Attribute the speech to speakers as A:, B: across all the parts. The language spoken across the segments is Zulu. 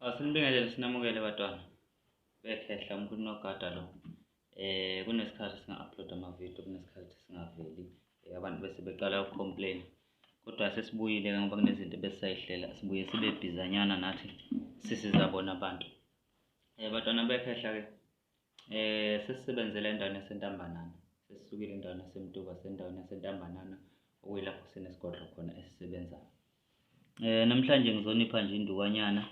A: Asinibingelele ah, sinamukele batwana. Bekhehla umkhulu nogada lo. Eh kunesikhathi singa-upload ama-video kunesikhathi singaveli. Eh, abantu bese beqala uku-complain. Kodwa sesibuyile ke ngoba kunezinto ebesayihlela. Sibuye sibe bhizanyana nathi sisiza bona abantu. Eh batwana bekhehla ke. Eh sesisebenzele endaweni yaseNtambanana. Sesisukile endaweni yaseMtuba sendaweni yaseNtambanana okuyilapho sinesigodlo khona esisebenzayo. Eh namhlanje ngizonipha nje indukanyana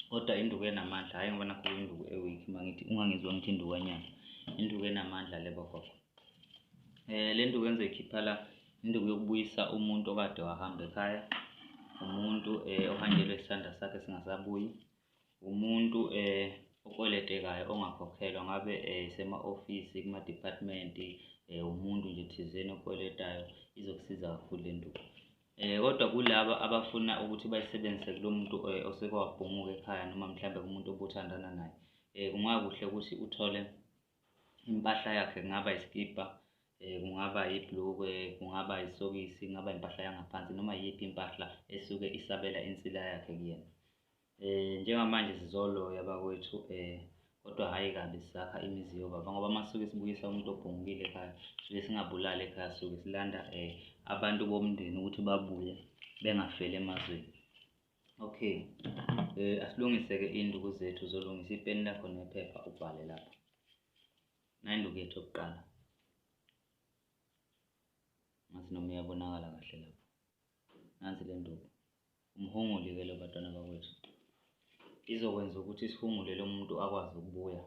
A: kodwa induku enamandla hhayi ngoba nakho induku e-weak uma ngithi ungangizwa ngithi indukanyana induku enamandla le bogogo eh le nduku engizoyikhipha la induku yokubuyisa umuntu okade wahamba ekhaya umuntu eh ohanjelwe isandla sakhe singasabuyi Umuntu okweletekayo ongakhokhelwa ngabe esema-ofisi kuma-department umuntu nje thizeni okweletayo izokusiza kakhulu le nto. Kodwa kulaba abafuna ukuthi bayisebenzise kulo muntu oseke wabhunguka ekhaya noma mhlawumbe kumuntu obuthandana naye um kungakuhle ukuthi uthole impahla yakhe kungaba isikibha um kungaba yiblukwe kungaba isokisi kungaba impahla yangaphansi noma iyiphi impahla esuke isabela insila yakhe kuyena Eh njengamanje sizoloya bakwethu eh kodwa hhayi kabi sisakha imizi yobaba ngoba uma suke sibuyisa umuntu obhungile ekhaya suke singabulali ekhaya suke silanda um abantu bomndeni ukuthi babuye bengafeli emazweni okay um asilungise-ke induku zethu zolungisa ipeni lakho nephepha ubhale lapho nayinduku yethu yokuqala ngathi noma iyabonakala kahle lapho Nansi le nduku. Umhunguli ke lo batwana bakwethu. Izokwenza ukuthi sihungule lo muntu akwazi ukubuya.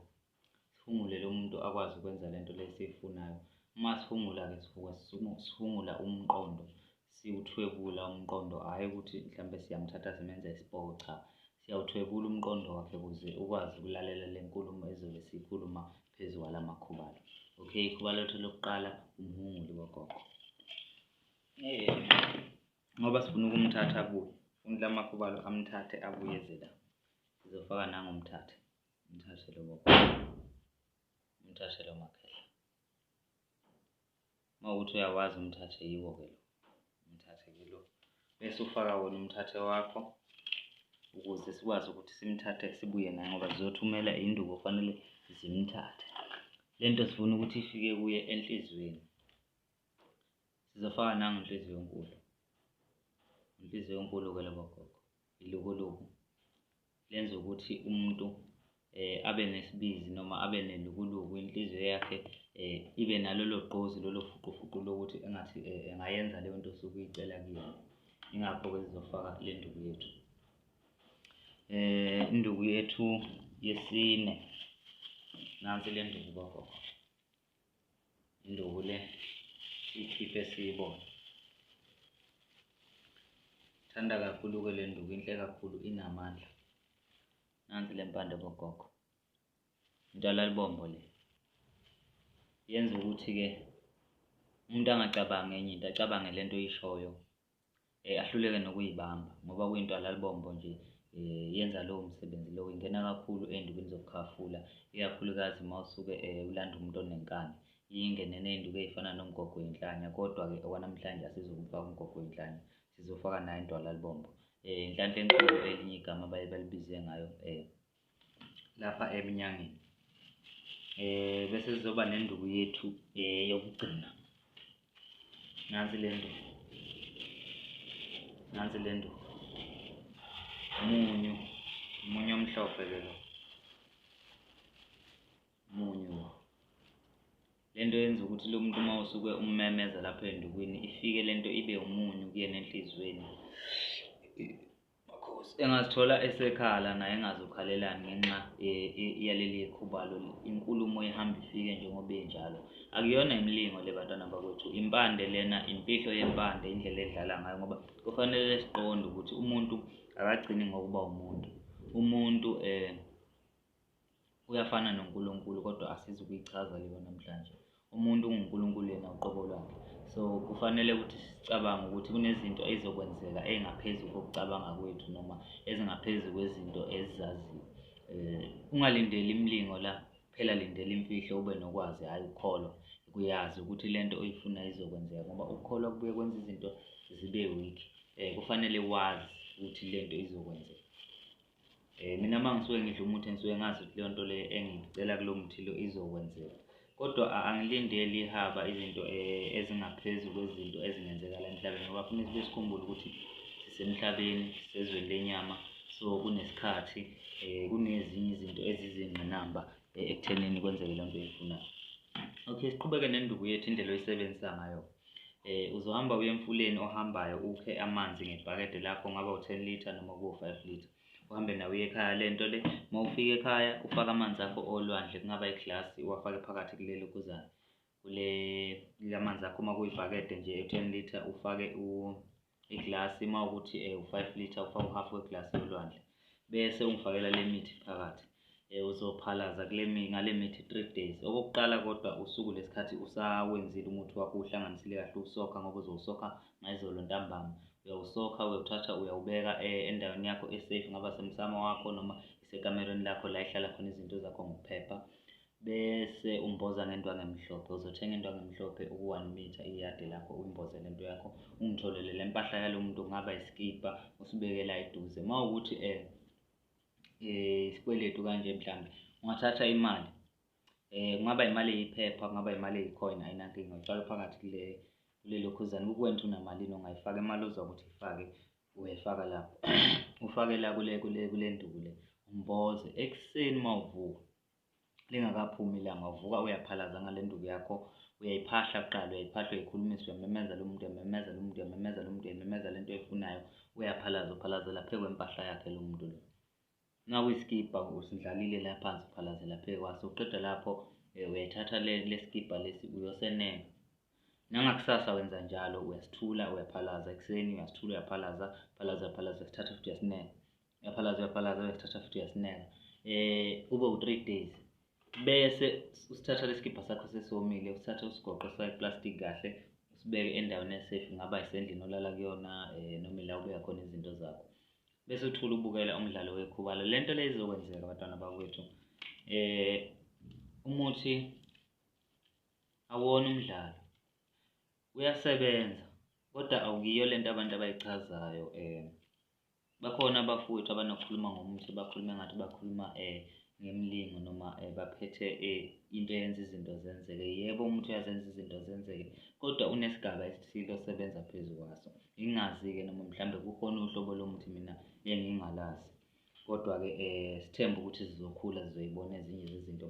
A: Sihungule lo muntu akwazi ukwenza le nto lesiyifunayo. Uma sihungula-ke sisuke sihungula umqondo, siwuthwebula umqondo, hhayi ukuthi mhlawumbe siyamthatha simenza isipoki, cha. Siyawuthwebula umqondo wakhe ukuze ukwazi ukulalela le nkulumo ezobe siyikhuluma phezu kwala makhubalo. Okay, ikhuba lethu lokuqala umhunguli wogogo. Eh, ngoba sifuna ukumthatha abuye umdla amakhubalo amthathe abuye zela sizofaka nango umthathe umthathe lo baba umthathe lo makhehla uma ukuthi uyawazi umthathe yiwo ke lo umthathe ke lo bese ufaka wona umthathe wakho ukuze sikwazi ukuthi simthathe sibuye naye ngoba zizothumela induku kufanele zimthathe le nto sifuna ukuthi ifike kuye enhliziyweni sizofaka nangu nhliziyo enkulu inhliziyo enkulu ke labo gogo ilukuluku lenza ukuthi umuntu eh abe nesibizi noma abe nelukuluku inhliziyo yakhe eh ibe nalolo gqozi lolo fuqufuqu lokuthi engathi eh, engayenza leyo nto osuke uyicela kuyona ingakho ke sizofaka le nduku yethu eh induku yethu yesine nansi le nduku bagogo induku le ikhiphe siyibone thanda kakhulu-ke le nduku inhle kakhulu inamandla nansi le mpande bogogo intalalibombo le yenza ukuthi-ke umuntu angacabangi enye into acabange le nto oyishoyo eh, ahluleke nokuyibamba ngoba kuyinto alalibombo nje eh, yenza lowo msebenzi lowo ingena kakhulu ey'ndukweni zokukhafula ikakhulukazi uma usuke eh, ulanda umuntu onenkani ingene ney'nduku ey'fana nomgogo wenhlanya kodwa-ke okwanamhlanje asizokufaka umgogo wenhlanya sizofaka nayo intwalalibombo um eh, inhlanhla enkulu elinye igama baye balibize ngayo um eh, lapha eminyangeni eh bese sizoba nenduku yethu eh yokugcina nansi le nduku nansi le nduku munyu munyu omhlophe ke lo munyu le nto yenza ukuthi lo muntu uma usuke ummemeza lapho endukwini ifike le nto ibe umunyu kuyena enhliziyweni Makhosi engazithola esekhala naye engazokhalelani ngenxa yaleli khubalo inkulumo ihamba ifike njengoba injalo akuyona imilingo le bantwana bakwethu impande lena imfihlo yempande indlela edlala ngayo ngoba kufanele siqonde ukuthi umuntu akagcini ngokuba umuntu umuntu um Uyafana noNkulunkulu kodwa asizi ukuyichaza leyo namhlanje. Umuntu unguNkulunkulu yena uqobo lwakhe. So kufanele ukuthi sicabange ukuthi kunezinto ezizokwenzeka engaphezu kokucabanga kwethu noma ezingaphezu kwezinto ezizaziyo. Eh ungalindeli imlingo la phela lindela imfihlo ube nokwazi hayi ukukholwa kuyazi ukuthi lento oyifuna izokwenzeka ngoba ukukholwa kubuye kwenza izinto zibe weak eh kufanele wazi ukuthi lento izokwenzeka. Eh mina mangisuke ngidla umuthi ngisuke ngazi ukuthi leyo nto le engicela kulo muthi lo izokwenzeka. Kodwa angilindeli ihaba izinto eh, ezingaphezulu kwezinto ezingenzeka la emhlabeni ngoba kufanele sibe sikhumbule ukuthi sisemhlabeni sezweni lenyama so kunesikhathi eh kunezinye izinto ezizingqinamba eh, ekuthenini kwenzeke le nto uyifunayo okay siqhubeke nenduku yethu indlela oyisebenzisa ngayo eh uzohamba uye emfuleni ohambayo ukhe amanzi ngebhakede lakho ngaba u-10 liter noma kuwo-5 liter uhambe nawo uye ekhaya le nto le uma ufika ekhaya ufake amanzi akho olwandle kungaba iglasi uwafake phakathi kuleli ukuzana kule lamanzi akho uma kuyibhakede nje u-10 liter ufake iglasi uma ukuthi um u-five litre ufake u-half weglasi yolwandle bese ungifakela le mithi phakathi um uzophalaza kule ngale mithi three days okokuqala kodwa usuku lesikhathi usawenzile umuthi wakho uhlanganisile kahle uwusokha ngoba uzowusokha ngayizolo ntambama uyawusokha uyawuthatha uyawubeka um endaweni yakho esafe ngaba semsamo wakho noma isekamerweni lakho la ihlala khona izinto zakho ngokuphepha bese umboza ngento angemhlophe uzothenga into angemhlophe uku-one meter iyadi lakho uyimbozele into yakho ungitholele le mpahla yalo muntu kungaba isikibha usibekela eduze uma ukuthi um isikweletu kanje mhlawumbe ungathatha imali um kungaba imali eyiphepha kungaba imali eyicoin ayinankinga utshala phakathi kule kulelokhuzane kukuwena ukuthi unamalini ongayifaka imali ozwa ukuthi ifake uyayifaka lapho ufakela kule kule kule nduku le umboze ekuseni uma uvuka lingakaphumi ilanga uvuka uyaphalaza ngale nduku yakho uyayiphahla kuqala uyayiphahla uyikhulumisa uyamemeza lo muntu uyamemeza lo muntu uyamemeza lo muntu uyamemeza le nto oyifunayo uyaphalaza uphalazela phezu kwempahla yakhe lo muntu lo nakuyisikibha usindlalile la phansi uphalazela phezu kwaso uqeda lapho eh, uyayithatha lesikibha lesi uyosenenga nangakusasa wenza njalo uyasithula uyaphalaza ekuseni uyasithula uyaphalaza phalaza phalaza sithatha futhi uyasinenga uyaphalaza uyaphalaza uyasithatha futhi uyasineka um kube u-three days bese usithatha lesikibha sakho sesomile usithathe usigoqo sifake plastic kahle usibeke endaweni esafe ngaba isendlini olala kuyona um noma ila ubeka khona izinto zakho bese uthula ubukela umdlalo wekhubalo le nto le izokwenzeka abantwana bakwethu um umuthi awona umdlalo uyasebenza kodwa awukiyo le nto abantu abayichazayo um Bakhona abafowethu abanokukhuluma ngomuthi bakhulume ngathi bakhuluma um ngemlingo noma um baphethe um into eyenza izinto zenzeke. Yebo umuthi uyazenza izinto zenzeke kodwa unesigaba esithile osebenza phezu kwaso. Ngingazi-ke noma mhlawumbe kukhona uhlobo lomuthi mina engingalazi. Kodwa-ke um sithembe ukuthi zizokhula zizoyibona ezinye zezinto.